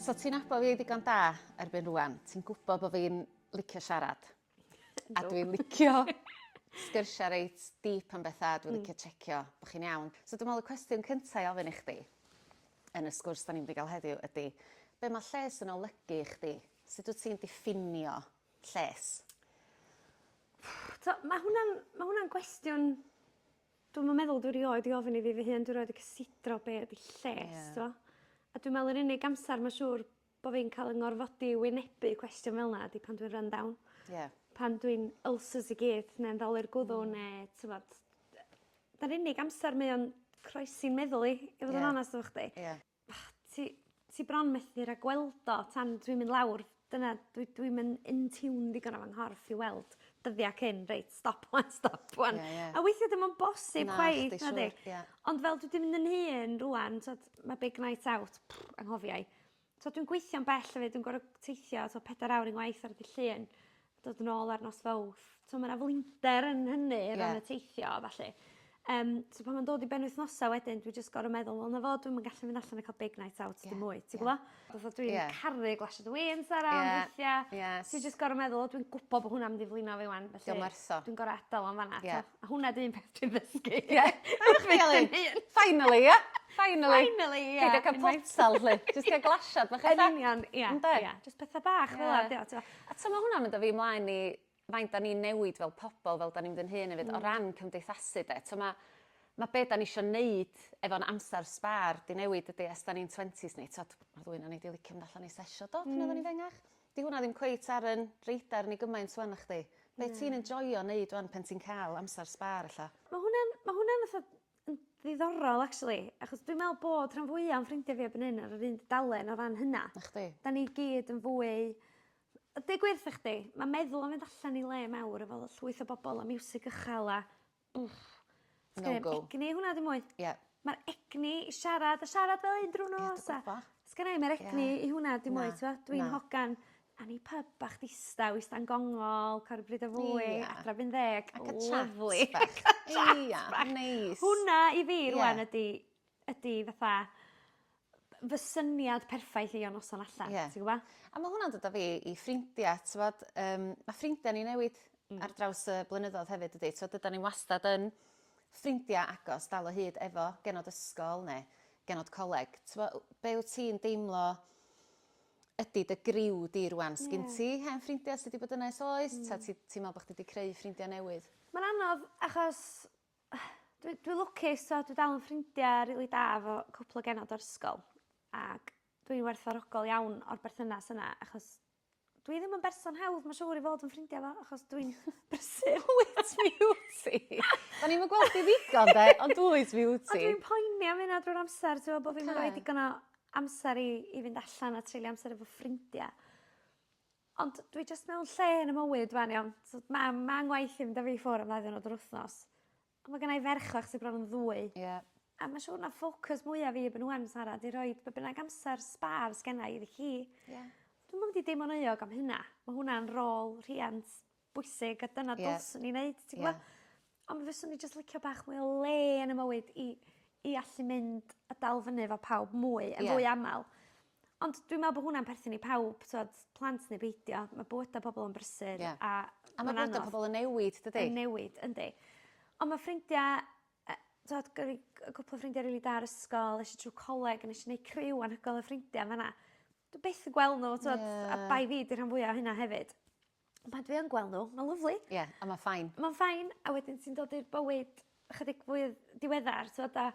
So ti'n nabod fi ddigon da erbyn rŵan, ti'n gwybod bod fi'n licio siarad. A dwi'n licio sgyrsia reit deep am betha a dwi'n licio checio bo' chi'n iawn. So dwi me'wl y cwestiwn cynta i ofyn i chdi yn y sgwrs 'dan ni mynd i ga'l heddiw ydi be' ma' lles yn olygu i chdi? Sut wt ti'n diffinio lles? T'o' ma' hwnna'n ma' hwnna'n gwestiwn dwi'm yn meddwl dwi rioed 'di ofyn i fi fy hun dwi rioed 'di cysidro be' ydi lles. Ie. T'mo'? A dwi me'wl yr unig amsar ma' siŵr bo' fi'n ca'l 'yn ngorfodi i wynebu cwestiwn fel 'na ydi pan dwi'n run down. Ie. Pan dwi'n ulcers i gyd ne'n ddolur gwddw ne' t'mod yy 'da'r unig amser mae o'n croesi'n meddwl i i fod yn onast efo chdi. Ie. Ti ti bron methu ragweld o tan dwi'n mynd lawr dyna dwi dwi'm yn in tune ddigon efo 'nghorff i weld dyddia cyn reit stop ŵan stop ŵan. Ie ie. A weithia' dim yn bosib chwaith nadi? Na chdi siŵr ie. Ond fel dwi 'di mynd yn hŷn rŵan t'od ma' big night out anghofiai. T'od dwi'n gweithio'n bell hefyd dwi'n gor'o' teithio t'o' pedair awr unwaith ar ddy' Llun dod yn ôl ar nos Fowrth. T'o' ma' 'na flinder yn hynny... Ie. ...o ran y teithio a ballu. Yym so pan ma'n dod i benwythnosa wedyn dwi jyst gor'o' meddwl wel 'na fo dwi'm yn gallu mynd allan a ca'l big night out dim mwy ti gwbo? Fatha dwi... Ie. ...yn caru glasiad o win Sara ond weithia... Ie ie. ...ti jyst gor'o' meddwl o dwi'n gwbo bo' hwnna mynd i flino fi 'wan felly... 'Di o'm werth o. ...dwi'n gor'o' adal o yn fan 'na t'o'? Ie. A hwnna 'di un peth dwi'n ddysgu. Ie. Wrth fy hun. Finally ia? Finally. Finally ia. Peidio ca'l potal 'lly. Jyst tua glasiad bach ella. Yn union ia. Ynde? Ia jyst petha bach fel 'a 'di o t'mo'. A t'mo' ma' hwnna'n mynd â fi mlaen i faint 'dan ni'n newid fel pobol fel 'dan ni'n mynd yn hŷn efyd o ran cymdeithasu 'de t'mo' ma' ma' be' 'dan ni isio neud efo'n amsar sbâr 'di newid dydi ers 'dan ni'n twentis ni t'od ma' rywun o'n i 'di licio mynd allan i sessio do pan oeddwn i'n fengach. 'Di hwnna ddim cweit ar 'yn radar ni gymaint ŵan nachdi? Be' ti'n enjoio neud ŵan pan ti'n ca'l amsar sbâr ella? Ma' hwnna'n ma' hwnna'n fatha yn ddiddorol actually achos dwi me'wl bod rhan fwya o'n ffrindie fi erbyn 'yn ar yr un dudalen o ran hynna. Nachdi? 'Dan ni gyd yn fwy yy deu gwir 'tho chdi ma' meddwl yn mynd allan i le mawr efo llwyth o bobol a miwsig ychal a Wff. No go. Egni hwnna ddim mwy. Ie. Ma'r egni i siarad a siarad fel 'yn drw'r nos a... Ie dwi gwbo. ...sgynnai 'im yr egni i hwnna dim mwy t'mo'? Na na. Dwi'n hogan a ni pub bach distaw ista'n gongol ca'l ryw bryd o fwyd... Ia. ...adra erbyn ddeg. Lyfli. A ca'l chat bach. Ia neis. Hwnna i fi rŵan ydi ydi fatha b- fy syniad perffaith i o noson allan. Ie. Ti gwbo? A ma' hwnna'n dod â fi i ffrindia t'mod yym ma' ffrindia ni'n newid... Hmm. ...ar draws y blynyddodd hefyd dydi t'od dydan ni wastad yn ffrindia agos dal o hyd efo genod ysgol ne' genod coleg t'mo' w- be' wt ti'n deimlo ydi dy griw di rŵan... Ie. ...sgin ti hen ffrindia sy 'di bod yna ers oes... Hmm. ...ta ti ti me'wl bo' chdi 'di creu ffrindia newydd? Ma'n anodd achos Dwi dwi lwcus t'o' dwi dal yn ffrindia rili da efo cwpwl o genod o'r ysgol ag dwi werthfawrogol iawn o'r berthynas yna achos dwi ddim yn berson hawdd ma' siŵr i fod yn ffrindia efo achos dwi'n brysur. Wyt ti wt ti? O'n ni'm yn gwel chdi ddigon 'de ond wyt ti wt ti? Ond dwi'n poeni am hynna drwy'r amser t'mo' bo' fi'm yn roi digon o amser i i fynd allan a treulio amser efo ffrindia. Ond dwi jyst mewn lle yn y mywyd rwan iawn so ma' ma' 'ngwaith i fynd â fi ffwr' am ddau ddiwrnod yr wthnos. On' ma' gennai ferch fach sy bron yn ddwy. Ie. A ma' siŵr na ffocws mwya fi erbyn ŵan Sara 'di rhoid be' bynnag amser sbâr sgennai iddi hi. Ie. Dwi'm yn mynd i deimlo'n euog am hynna. Ma' hwnna'n rôl rhiant bwysig a dyna... Ie. ...dylswn ni neud ti gwbo? Ond fyswn i jyst licio bach mwy o le yn 'ym mywyd i i allu mynd a dal fyny efo pawb mwy yn fwy amal. Ond dwi me'wl bo' hwnna'n perthyn i pawb t'wod plant ne' beidio ma' bywyda pobol yn brysur... Ie. ...a ma'n anodd. A ma' bywyda pobol yn newid dydi? Yn newid yndi. On' ma' ffrindia yy t'wod gen fi c- yy cwpwl o ffrindia rili da ar ysgol esh i trw coleg a nesh i neu' criw anhygoel o ffrindia yn fan 'na. Dwi byth yn gwel' n'w t'wod... Ie. ...a bai fi 'di rhan fwya o hynna hefyd. Pan dwi yn gweld n'w ma'n lyfli. Ie a ma' fine. Ma'n fine a wedyn ti'n dod i'r bywyd ychydig fwy diweddar t'wod a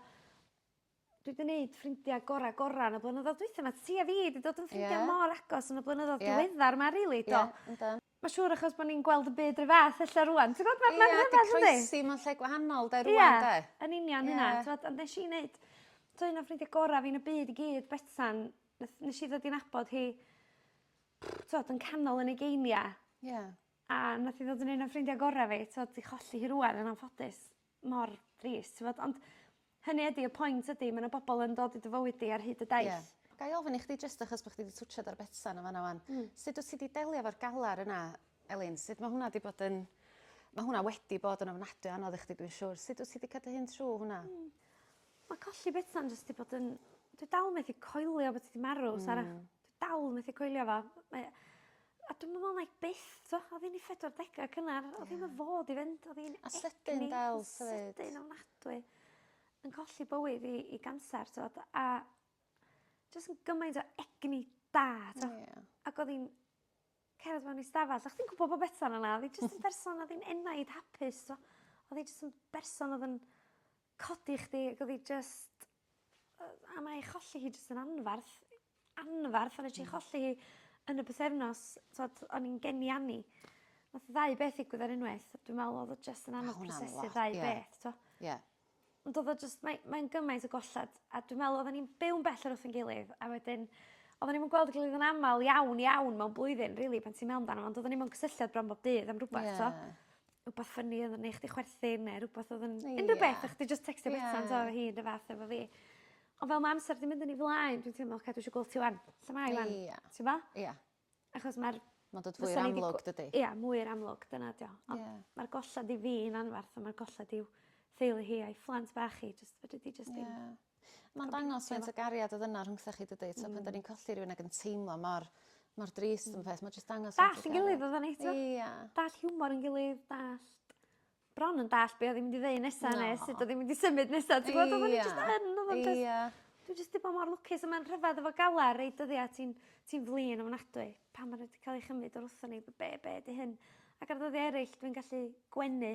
dwi 'di neud ffrindia gora gora yn y blynyddodd dwitha 'ma ti a fi 'di dod yn ffrindia... Ie. ...mor agos yn y blynyddodd... Ie. ...diweddar 'ma rili do? Ie yndw. Ma' siŵr achos bo' ni'n gweld y byd 'run fath ella rŵan ti gwbod ma' ma' rhyfedd yndi? Ie 'di croesi mewn lle gwahanol 'de rŵan 'de? Ie yn union hynna. Ie. T'wod ond nesh i neud t'o' un o ffrindia gora fi yn y byd i gyd Betsan neth nesh i ddod i nabod hi t'od yn canol yn ugeinia'. Ie. A nath 'i ddod yn un o ffrindia gora' fi t'od 'di cholli hi rŵan yn anffodus. Mor drist t'mod ond hynny ydi y point ydi ma' 'na bobol yn dod i dy fywyd di ar hyd y daith. Ie. Gai ofyn i chdi jyst achos bo' chdi 'di twtsiad ar Betsan yn fan 'na ŵan. Hmm. Sut wt ti 'di delio efo'r galar yna Elin sut ma' hwnna 'di bod yn ma' hwnna wedi bod yn ofnadwy o anodd i chdi dwi'n siŵr sut wt ti 'di ca'l dy hun trw hwnna? Hmm. Ma' colli Betsan jyst 'di bod yn dwi dal methu coelio bod 'i 'di marw Sara. Hmm. Dal methu coelio fo. Mae o... A dwi'm yn me'wl 'nai byth t'o' odd 'i'n 'i phedwar dega cynnar odd ddim yn fod i fynd odd 'i'n egni... A sydyn dal t'o' 'fyd. ...sydyn ofnadwy. Yn colli bywyd i i ganser t'od a jys yn gymaint o egni da t'o'? Ia. Ac odd 'i'n cerdded mewn i stafell a chdi'n gwbo bo' Betsan yna o'dd 'i jyst yn berson o'dd 'i'n enaid hapus t'o'? O'dd 'i jyst yn berson o'dd yn codi chdi ag odd 'i jyst yy a mae 'i cholli hi jyst yn anfarth anfarth a nesh i cholli hi yn y pythefnos t'od o'n i'n geni Annie. Nath y ddau beth ddigwydd ar unwaith a dwi me'wl odd o jyst yn anodd prosesu ddau beth t'o'? Ie. Ond odd o jyst mae mae'n gymaint o golled a dwi me'wl oddan ni'n byw'n bell oddi wrth 'yn gilydd a wedyn oddan ni'm yn gweld 'i gilydd yn amal iawn iawn mewn blwyddyn rili pan ti'n me'wl amdano fo ond oddan ni'n mewn cysylltiad bron bob dydd am rwbeth t'o'? Ie. rwbath ffyni odd yn neu' chdi chwerthin ne' rwbath odd yn... Ia. ...unryw beth a chdi jyst tecsto Betsan t'o' hi 'r un fath efo fi. On' fel ma' amser 'di mynd yn 'i flaen dwi'n teimlo oce dwi isio gweld ti 'wan. Lle mae 'i 'wan? Ia. T'bo'? Ia. Achos ma'r... Ma'n dod fwy amlwg dydi? Ia mwy i'r amlwg dyna 'di o. Ond... Ia. ...ma'r golled i fi'n anfarth a ma'r golled i'w theulu hi a'i phlant bach hi jyst fedri di jyst dim... Ia. Ma'n dangos faint o gariad odd yna rhwngthoch chi dydi? T'o' pan 'dan ni'n colli rywun ag yn teimlo mor mor drist am peth ma' jyst dangos... Dallt 'yn gilydd oddan ni t'o'? Ia. Dallt hiwmor 'yn gilydd dallt bron yn dallt be' o'dd 'i mynd i ddeu nesa ne' sut o'dd 'i mynd i symud nesa ti gwbod oddan ni jyst yn oddan ni jyst... Ia. ...dwi jyst 'di bod mor lwcus a ma'n rhyfedd efo galar rei dyddia' ti'n ti'n flin ofnadwy pan ma' n'w 'di ca'l 'u chymyd o'r wrthon ni b- be' be' 'di hyn? Ac ar ddyddia' eryll dwi'n gallu gwenu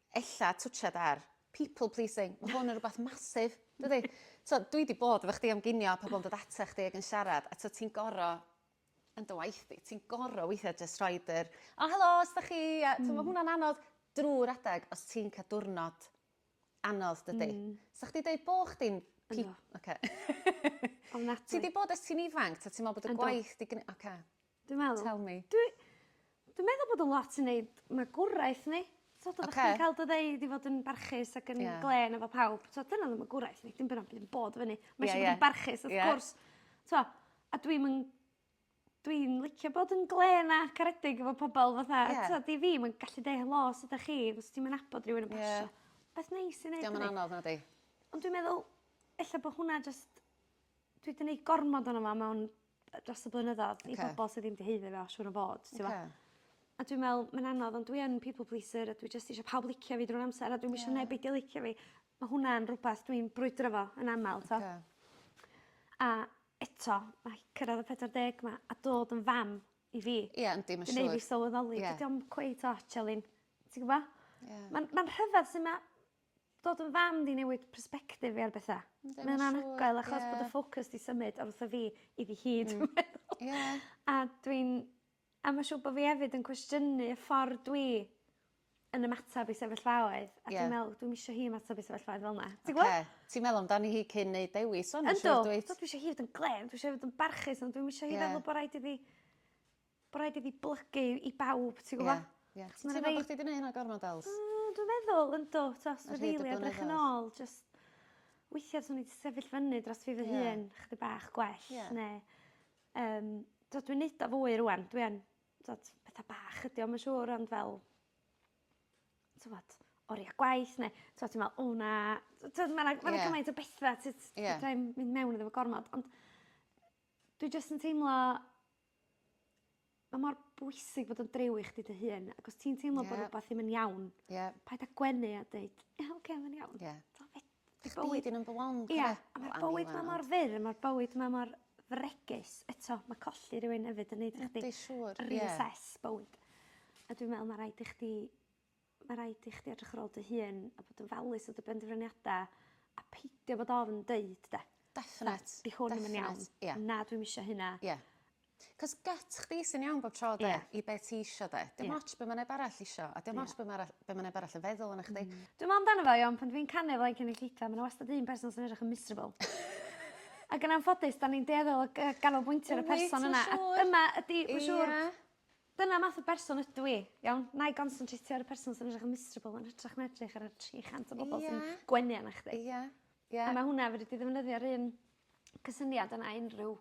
Ella twtshad ar people pleasing. Ma' hwn yn rwbath massive, dydi? T'o' dwi 'di bod efo chdi am ginio a pobol yn dod ata chdi ag yn siarad a t'o' ti'n goro yn dy waith di ti'n goro weithia' jyst rhoid yr o helo su' 'dach chi a t'o' ma' hwnna'n anodd drw'r adeg os ti'n ca'l diwrnod anodd dydi? Hmm. Sa chdi deud bo' chdi'n pe- Yndw. Oce. Ofnadwy. Ti 'di bod ers ti'n ifanc 'ta ti me'wl bod y... Yndw. ...gwaith 'di gn- oce. Dwi meddwl. Tell me. Dwi dwi meddwl bod o lot i neud magwraeth ni. T'od oddach... Oce. ...chdi'n ca'l dy ddeud i fod yn barchus ac yn... Ie. ...glên efo pawb t'od dyna o'dd y magwraeth ni dim byd o'm byd yn bod fyny. Ie ie. Ma' isio bod yn barchus wrth gwrs. Ie. T'mo' a dwi'm yn dwi'n licio bod yn glên a caredig efo pobol fatha... Ie. ...t'od i fi ma'n gallu deu' helo sud 'dach chi os ti'm yn nabod rywun yn pasio. Ie. Beth neis i neud yndi? 'Di o'm yn anodd nadi? Ond dwi'n meddwl ella bo' hwnna jyst dwi 'di neud gormod ono fo mewn yy dros y blynyddodd... Oce. ...i bobol sy ddim 'di haeddu fe siŵr o fod t'mo'? Oce. A dwi me'wl mae'n anodd ond dwi yn people pleaser a dwi jyst isio pawb licio fi drw'r amser a dwi'm isio... Ie. ...neb beidio licio fi. Ma' hwnna'n rwbath dwi'n brwydro 'fo yn amal t'o'? Oce. A eto ma' hi cyrradd y pedwar deg 'ma a dod yn fam i fi... Ie yndi ma' siŵr. ...yn neu' fi sylweddoli... Ie. ...dydi o'm cweit ots Elin. Ti gwbo? Ie. Ma'n ma'n rhyfedd su' ma' Dod yn fam 'di newid persbectif fi ar betha. Yndi ma'n siŵr. Ma'n anhygoel achos... Ie. ...bod y ffocws 'di symud oddi wrtho fi iddi hi dwi meddwl. Ie. A dwi'n a ma' siŵr bo' fi efyd yn cwestiynu y ffor dwi yn ymatab i sefyllfaoedd. Ie. A dwi'n me'wl dwi'm isio hi ymatab i sefyllfaoedd fel 'na. Ti gwbo? Oce. Ti'n meddwl amdani hi cyn neud dewis ŵan siŵr dwyt? Yndw. Dw dwi isio hi fod yn glên dwi isio 'i fod yn barchus ond dwi'm isio hi... Ie. ...feddwl bo' raid iddi bo' raid i fi blygu i bawb ti gwbo? Ie ie. Ti'n teimlo bo' chdi 'di neu' hynna gormod Els? Yy dwi'n meddwl yndw t'os ma' rili edrych yn ôl jyst weithia' swn i 'di sefyll fyny dros fi fy hun chydig bach gwell ne' yym t'od dwi'n neud o fwy rŵan dwi yn t'od petha bach ydi o ma' siŵr ond fel t'mod oria gwaith ne' t'o' ti me'wl o na t- t'od ma' 'na ma' 'na gymaint o betha t- t- fedrai'm mynd mewn iddo fo gormod ond dwi jyst yn teimlo Ma' mor bwysig bod yn driw i chdi dy hun ac os ti'n teimlo... Ie. ...bo' rwbath ddim yn iawn... Ie. ...paid â gwenu a deud ie oce mae'n iawn. Ie. T'o' fe- ma' bywyd... Chdi 'di number one cofia. Ia a ma'r bywyd 'ma mor fyr a ma'r bywyd 'ma mor fregus eto ma' colli rywun efyd yn neud i chdi... Ydi siŵr ie. ...reassess bywyd a dwi'n me'wl ma' raid i chdi Mae rhaid i chdi edrych ar ôl dy hun a bod yn falus o dy benderfyniadau a peidio bod ofn deud 'de. Definate. 'Di hwn ddim yn iawn. Definate ie. Na dwi'm isio hynna. Ie. 'C'os gut chdi sy'n iawn bob tro 'de? Ie. I be' ti isio 'de? Ie. Dim ots be' ma' neb arall isio a dim ots be' ma' arall be' ma' neb arall yn feddwl ona chdi. Hmm. Dwi me'wl amdano fo iawn pan dwi'n canu o flaen cynulleidfa ma' 'na wastad un person sy'n edrych yn miserable. Ag yn anffodus 'dan ni'n dueddol o gy- ganolbwyntio ar y person yna. Wyt ti'n siŵr? A dyma ydi... Ia. ...ma' siŵr Dyna math o berson ydw i. Iawn? 'Nai gonsyntreitio ar y person sy'n edrych yn miserable yn hytrach na edrych ar y tri chant o bobol... Ie. ...sy'n gwenu arnach chdi. Ie. Ie. A ma' hwnna fedri di ddefnyddio'r un cysyniad yna i unryw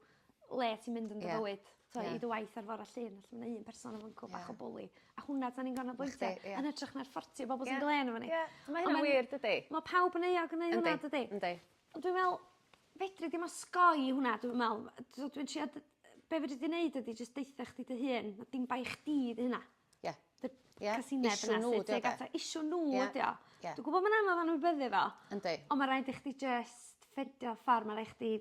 le ti'n mynd yn dy fywyd. Ie. Ie. T'wo' i dy waith ar fora Llun felly ma' 'na un person yn fynco bach o bwli a hwnna 'dan ni'n ganolbwyntio... Nacdi ie. ...yn hytrach na'r ffortio bobol sy'n glên arno ni. Ie. Ie. Ma' hynna'n wir dydi? Ma' pawb yn euog yn neu' hwnna dydi? Yndi yndi. Ond dwi me'wl Fedri di'm osgoi hwnna dwi'm me'wl yy t'od dwi'n trio dy- yy be' fedri di neud ydi jyst deutha chdi dy hun ma' dim bai chdi 'di hynna. Ie. Dy-... Ie. ...casineb yna sy tuag at y... Issue n'w 'di o 'de? Issue n'w ydi o. Ie. Dwi gwbo ma'n anodd anwybyddu fo. Yndi. On' ma' raid i chdi jyst ffindio ffor ma' rai' chdi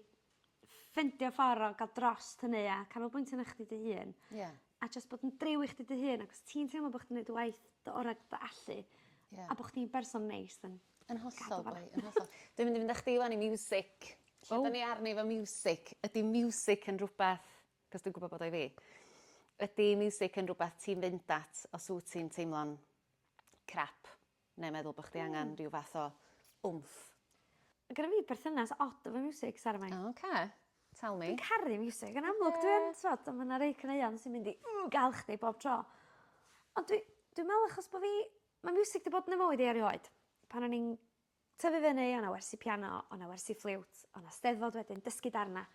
ffindio ffor o ga'l drost hynny a canolbwyntio arna chdi dy hun. Ie. A jyst bod yn driw i chdi dy hun ac os ti'n teimlo bo' chdi'n neud dy waith dy ora' dy allu... Ie. ...a bo' chdi'n berson neis then Yn hollol boi yn hollol. Dwi'n mynd i fynd â chdi ŵan i miwsic. Lle oh. 'dan ni arni efo miwsic? Ydy miwsic yn rhywbeth, cos dwi'n gwybod bod o'i fi, ydy miwsic yn rhywbeth ti'n fynd at os wyt ti'n teimlo'n crap neu meddwl bod chdi hmm. angen rhyw fath o wmff? Gyda fi perthynas odd efo miwsic, Sara Mae. O, oce. Tell me. Dwi'n caru miwsic. Yn amlwg, yeah. dwi'n twod, ond mae'na rei cyneuon sy'n mynd i mm, gael chdi bob tro. Ond dwi'n dwi meddwl achos bod fi Ma' miwsig 'di bod yn 'ym mywyd i erioed. Pan o'n i'n tyfu fyny o' 'na wersi piano o' 'na wersi ffliwt o' 'na Steddfod wedyn dysgu darna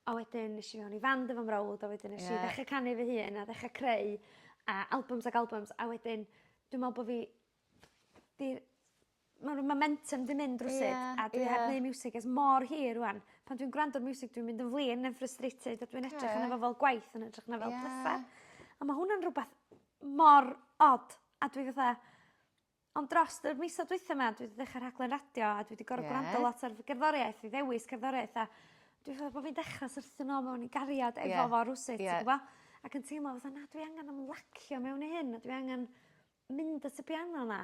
a wedyn esh i mewn i fand efo mrawd a wedyn nesh i... Ie. ...ddechre canu fy hun a ddechre creu a albums ag albums a wedyn dwi me'wl bo' fi 'di ma' ryw momentym 'di mynd rywsut... Ie ie. ...a dwi heb neu' miwsig ers mor hir rŵan. Pan dwi'n gwrando ar miwsig dwi'n mynd yn flin yn frustrated a dwi'n edrych arno fo fel gwaith yn ytrach na fel petha. Ie. A ma' hwnna'n rwbath mor od. A dwi fatha ond drost yr misodd dwitha 'ma dwi 'di dechra rhaglen radio a dwi 'di gorod... Ie. ...gwrando lot ar fy gerddoriaeth i ddewis cerddoriaeth a dwi fel bo' fi'n dechra syrthio nôl mewn i gariad efo... Ie. ...fo rywsut... Ie. ...ti gwbo? Ac yn teimlo fatha na dwi angan ymlacio mewn i hyn a dwi angan mynd at y piano 'na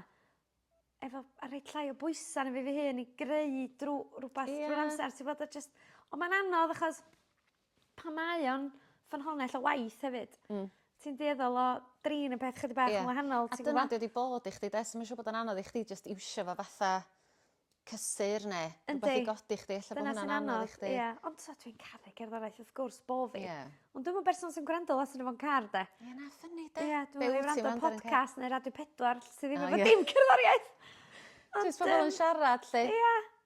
efo a rhoi llai o bwysa' arno fi fy hun i greu drw rwbath... Ie. ...drw'r amsar ti wbod a jyst on' ma'n anodd achos pan mae o'n ffynhonnell o waith hefyd. Hmm. Ti'n dueddol o drin y peth chydig bach... Ie. ...yn wahanol ti'n gwbo? A dyna 'di o 'di bod i chdi 'de so ma' siŵr bod o'n anodd i chdi jyst iwsio fo fatha cysur ne'... Yndi. ...rwbath i godi chdi ella bo' hwnna'n anodd i chdi. Dyna sy'n anodd ie ond t'o' dwi'n caru cerddoriaeth wrth gwrs bo' fi. Ie. Ond dwi'm yn berson sy'n gwrando lot arno fo'n car 'de? Ie na ffyni 'de? Ie dwi me'wl i wrando ar podcast ne' Radio Pedwar sy ddim efo dim cerddoriaeth! Ond yym... Jyst pobol yn siarad 'lly. Ia.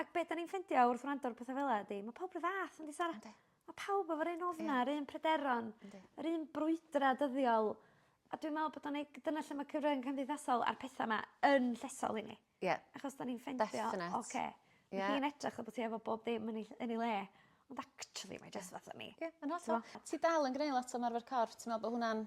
Ac be' 'dan ni'n ffindio wrth wrando ar petha fela ydi ma' pawb 'run fath yndi Sara? Yndi. Ma' pawb efo'r un ofn a'r un pryderon. Yndi. Yr un brwydra' dyddiol a dwi me'wl bod o'n neu'... Dyna lle ma' cyfrynga cymdeithasol a'r petha 'ma yn llesol i ni. Ie. Achos 'dan ni'n ffeindio... Definate. ...oce. Ie. Ma' hi'n edrych fel bo' ti efo bob dim yn 'i ll- yn 'i le ond actually mae jyst fatha ni. Ie yn hollol. Ti dal yn gneu' lot o ymarfer corff ti me'wl bo' hwnna'n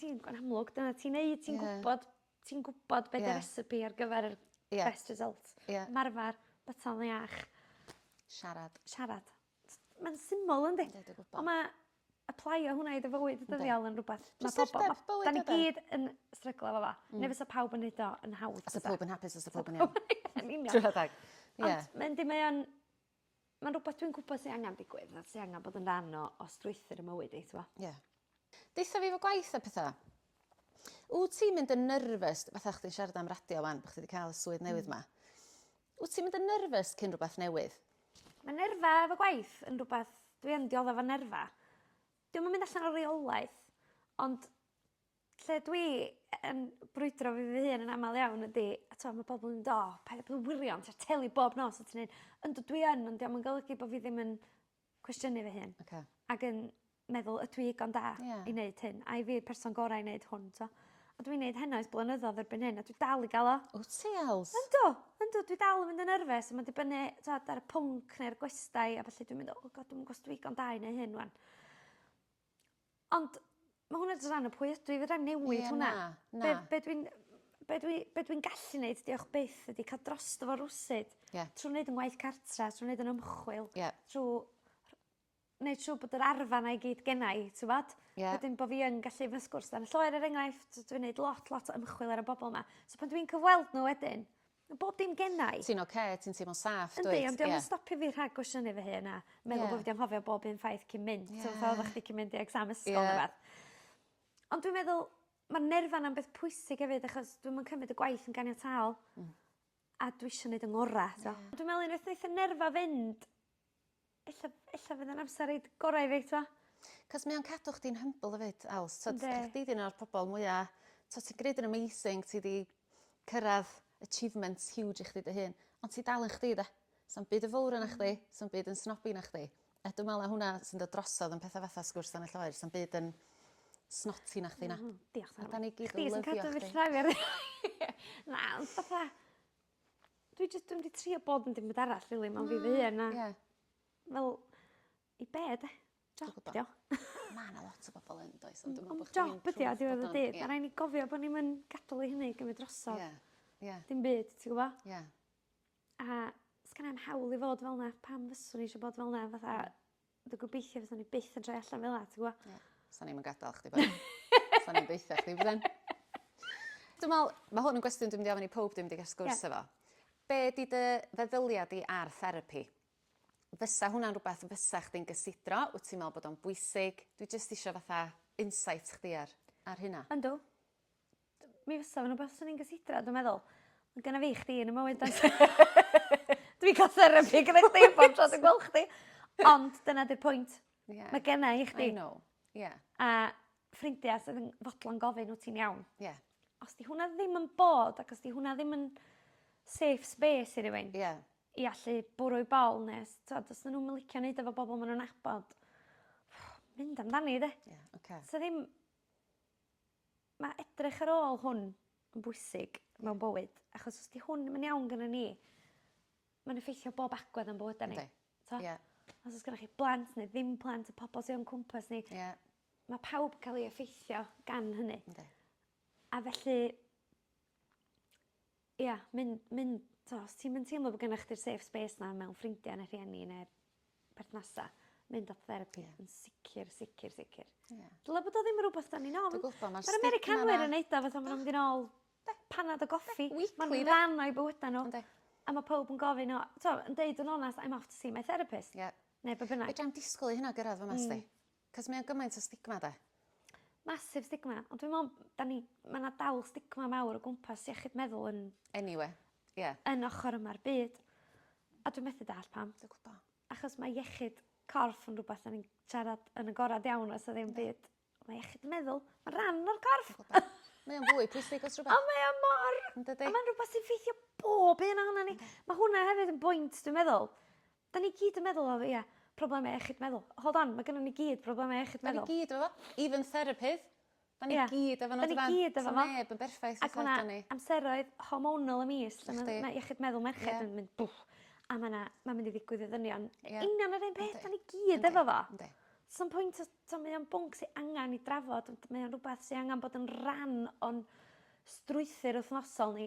Ti'n gw'n amlwg dyna ti'n neud ti'n gwbod ti'n gwbod be' 'di recipe ar gyfer yr... Ia. ...best result. Ia. Marfar byta fo iach. Siarad. Siarad. T- ma'n syml yndi? Yndi dwi gwbo. On' ma' aplaio hwnna i dy fywyd ddyddiol yn rwbath ma' pobol... Prysurdeb bywyd ydi? ...'dan ni gyd yn stryglo efo fo. Hmm. Ne' fysa pawb yn neud o yn hawdd bysa? Sa powb yn hapus fysa powb yn iawn. Yn union. Chwara teg. Ie. Ond ma' yndi mae o'n Mae'n rhywbeth dwi'n gwybod sy angen digwydd a sy angen bod yn rhan o o strwythur y mywyd i t'mo'? Ie. Deutha fi efo gwaith a petha. Wt ti'n mynd yn nervous fatha o' chdi'n siarad am radio 'wan bo' chdi 'di ca'l y swydd newydd 'ma. Wt ti'n mynd yn nervous cyn rwbath newydd? Ma' nerfa efo gwaith yn rwbath dwi yn diodde 'fo nerfa. 'Di o'm yn mynd allan o reolaeth ond Lle dwi yn brwydro fi fy hun yn amal iawn ydi a t'o' ma' pobol yn do paid a bod yn wirion ti ar teli bob nos a ti neud yndw dwi yn ond 'di o'm yn golygu bo' fi ddim yn cwestiynu fy hun. Oce. Ag yn meddwl ydw i igon da... Ie. ...i neud hyn ai fi yw'r person gora i neud hwn t'o'? A dwi'n neud heno ers blynyddodd erbyn hyn a dwi dal i ga'l o. Wt ti else? Yndw yndw dwi dal yn mynd yn nerfys a ma'n dibynnu t'od ar y pwnc ne'r gwestai a felly dwi'n mynd o God dwi'm yn g'o' os dwi igon da i neu hyn 'wan. Ond ma' hwnna jys ran o pwy ydw i fedrai 'im newid hwnna. Ie na na. Be' be' dwi'n be' dwi be' dwi'n gallu neud diolch byth ydi ca'l drosto fo rywsut. Ie. Trw neud 'yn ngwaith cartra trw neud 'yn ymchwil. Ie. Trw rh- neud siŵr bod yr arfa 'na i gyd genna i t'mod? Ie. Wedyn bo' fi yn gallu fy sgwrs dan y lloer er enghraifft dwi neud lot lot o ymchwil ar y bobol 'ma. So pan dwi'n cyfweld n'w wedyn Ma bob dim gennai. Ti'n oce ti'n teimlo'n saff dwyt? Yndi ond 'di o'm yn stopio fi rhag gwestiynu fy hun a meddwl bo' fi 'di anghofio bob un ffaith cyn mynd. Ie. T'mo' fel odda chdi cyn mynd i exam ysgol... Ie. ...ne' wbath. Ond dwi'n meddwl ma'r nerfa 'na'n beth pwysig efyd achos dwi'm yn cymryd y gwaith yn ganiataol. Hmm. A dwi isio neud 'yn ngora t'o'? Ie. Dwi me'wl unwaith neith y nerfa fynd Ella ella fydd e'n amser reid gora i fi t'mo'? 'C'os mae o'n cadw chdi'n humble efyd Els t'od... Yndi. ...chdi 'di un o'r pobol mwya t'o' ti'n gneud yn amazing ti 'di cyrradd achievemnt huge i chdi dy hun ond ti dal yn chdi 'de? Sa'm byd yn fowr arna chdi sa'm byd yn snobby na chdi a dwi me'wl ma' hwnna sy'n dod drosodd yn petha fatha sgwrs dan y lloer sa'm byd yn snotty na chdi na. M-hm. Diolch . A 'dan ni gyd yn lyfio chdi. Chdi sy'n cadw fi llnau fi ar ddau. Na ond fatha Dwi jys dwi'm 'di trio bod yn dim byd arall rili mewn fi fy hun a... Ie. ...fel i be' 'de? Job 'di o. Ma' 'na lot o bobol yn does ond dwi me'wl bo' chdi... Ond job ydi o diwedd y dydd ma' rai' ni gofio bo' ni'm yn gadal i hynny gymyd drosodd. Ie. Ie. Dim byd ti gwbo? Ie. A sgennai 'im hawl i fod fel 'na pam fyswn i isio bod fel 'na fatha Dwi'n gobeithio fyswn ni byth yn troi allan fel la, ti'n gwa? Ie. Sa'n i'm yn gadael chdi ben. Sa'n i'm deitha chdi ben. Dwi'n meddwl, mae hwn yn gwestiwn dwi'n mynd i ofyn i pob dwi'n mynd i gael sgwrs yeah. efo. Be di dy feddyliad di ar therapi? Fysa hwnna'n rhywbeth fysa chdi'n gysidro? Wyt ti'n meddwl bod o'n bwysig? Dwi jyst eisiau fatha insight chdi ar, ar hynna. Ynddo. Mi fysa fo'n wbath swn i'n gysidro dwi meddwl. Ma' gynna fi chdi yn 'ym mywyd does? Dwi'n ca'l therapi gyda chdi bob tro dwi'n gwel' chdi. Ond dyna 'di'r pwynt. Ie. Ma' genna i chdi. I know. Ie. A ffrindia sydd yn fodlon gofyn wt ti'n iawn. Ie. Os 'di hwnna ddim yn bod ac os 'di hwnna ddim yn safe space i rywun... Ie. ...i allu bwrw 'u bol ne' s- t'od os 'dyn nw'm yn licio neud o 'fo bobol ma' nw'n nabod mynd amdani 'de? Ie oce. 'Sa ddim Mae edrych ar ôl hwn yn bwysig mewn bywyd, achos os di hwn ddim yn iawn gynnon ni, mae'n effeithio bob agwedd o'n bywyda ni. Yndi. T'o'? Ie. Os o's gynnoch chi blant ne' ddim plant y pobol sy o'n cwmpas ni. Ie. Ma' pawb ca'l 'i effeithio gan hynny. Yndi. A felly Ia myn- myn- t'o' os ti'm yn teimlo bo' gynnoch chdi'r safe space 'na mewn ffrindia ne' rhieni ne' perthnasa mynd at therapi. Ie. Yn sicir sicir sicir. Ie. Dyle bod o ddim yn rwbath 'dan ni'n ofn. Dwi gwbo ma'r stigma 'na... Ma'r Americanwyr yn neud o fatha ma' nw'n mynd yn ôl... Yndi. ...panad a goffi. Yndi weekly 'de? Ma'n rhan o'u bywyda n'w. Yndi. A ma' powb yn gofyn o t'o' yn deud yn onast I'm off to see my therapist. Ie. Ne' be' bynnag. Fedrai'm disgwl i hynna gyrradd fy 'ma sdi. Hmm. Cos mae o'n gymaint o stigma 'de? Massive stigma ond dwi me'wl 'dan ni ma' 'na dal stigma mawr o gwmpas iechyd meddwl yn... Anyway ie. ...yn ochor yma'r byd. A dwi methu dall pam. Dwi gwbo. Achos mae iechyd corff yn rwbath 'dan ni'n siarad yn agorad iawn a 'sa ddim byd on' ma' iechyd meddwl ma' ran o'r corff. Dwi gwbo. Mae o'n fwy pwysig os rwbeth. A mae o mor... Yndydi? ...a ma'n rwbath sy'n ffeithio bob un ohonon ni. Yndi. Ma' hwnna hefyd yn bwynt dwi'n meddwl. Da ni gyd yn meddwl o ia, problemau iechyd meddwl. Hold on, ma' gynnon ni gyd problemau iechyd meddwl. Da ni gyd efo fo. Even therapydd. Da ni gyd efo n'w dydan? Da ni gyd efo fo. Sa neb yn berffaith fatha ydan ni. Ac ma' 'na amseroedd hormonal y mis lle ma'... Yndi. ...ma' iechyd meddwl merched yn mynd bŵff a ma' 'na ma'n mynd i ddigwydd i ddynion. Ie. Union yr un peth. Yndi. Da ni gyd efo fo. Yndi. Sa'm pwynt os t'o' mae o'n bwnc sy angan 'i drafod ond mae o'n rwbath sy angan bod yn ran o'n strwythur wthnosol ni.